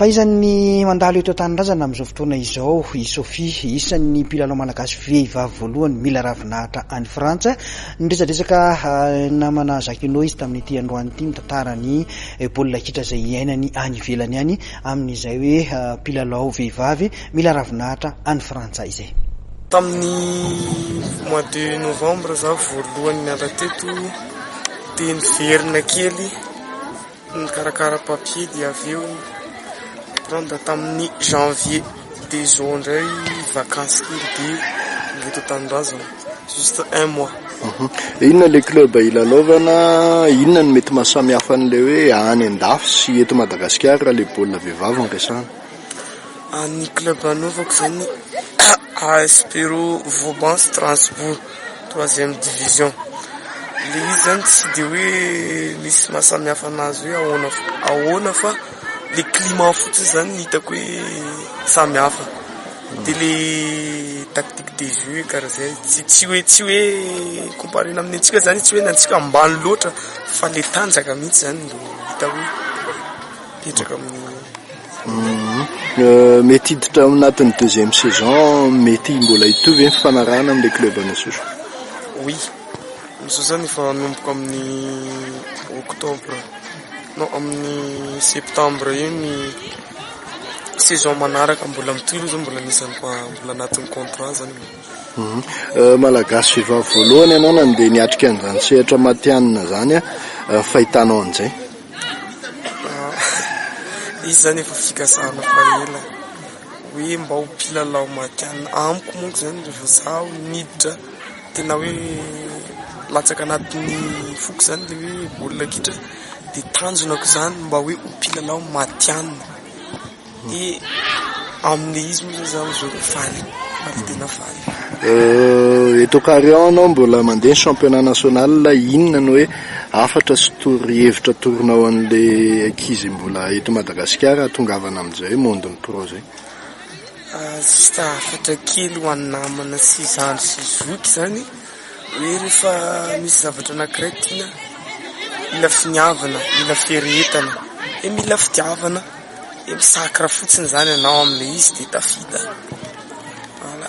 Fahaizan'ny mandalo eto an-tanindrazana amin'izao fotoana izao i Sophie. Isan'ny mpilalao malagasy vehivavy voalohany mila ravinahitra any Frantsa. Niresadresaka namana Jacquinot izy tamin'ity androany ity mitantara ny baolina kitra izay iainany any ivelany any amin'izay hoe mpilalao vehivavy mila ravinahitra any Frantsa izay. Tamin'ny mois de novembre izaho voalohany niala teto dia niverina kely. Nikarakara papier dia avy eo prendre tamin'ny janvier dia izao indray vacances kely dia mbola eto an-tanindrazana juste un mois. Inona ilay club hilalaovana? Inona no mety maha samy hafa an'ilay hoe any an-dafy sy eto Madagasikara raha ilay baolina vehivavy no resahana? Ny club anaovako zany AS Pero Vauban Strasbourg troisième division, le izy zany tsy de hoe misy maha samy hafa anazy hoe ahoana ahoana fa le climat fotsiny zany no hitako hoe samy hafa, de le tactique de jeu kara zay tsy tsy hoe tsy hoe comparena amin'ny antsika zany tsy hoe ny antsika ambany loatra fa le tanjaka mihitsy zany no hita hoe ketraka amin'ny. Mety hiditra ao anatin'ny deuxième saison, mety mbola hitohy ve ny fifanarahana amin'ilay club any Antsohihy? Oui, amin'izao zany efa hanomboka amin'ny octobre, non amin'ny septembre eo ny saison manaraka, mbola mitohy aloha zany mbola anisan'ny fa mbola anatin'ny contrat zany. Malagasy vehivavy voalohany ianao nandeha niatrika an'izany sehatra matihanina izany, ny fahitanao an'izay? Izy zany efa fikasana fa ela hoe mba ho mpilalao matihanina amiko manko zany rehefa zaho niditra tena hoe latsaka anatin'ny foko zany le hoe baolina kitra de tanjonako zany mba hoe ho mpilalao matihanina. Dia amin'ilay izy moa zany izaho dia faly, faly tena faly. Eto Carion anao mbola mandeha ny championnat national, inona no hoe hafatra sy torohevitra atoronao an'ilay ankizy mbola eto Madagasikara hahatongavana amin'izay hoe monde ny pro izay? Juste hafatra kely ho an'ny namana sy zandry sy zoky izany hoe rehefa misy zavatra anankiray tiana, mila finiavana, mila fiaretana dia mila fitiavana. de misakra fotsiny zany anao amle izy de tafita, voilà.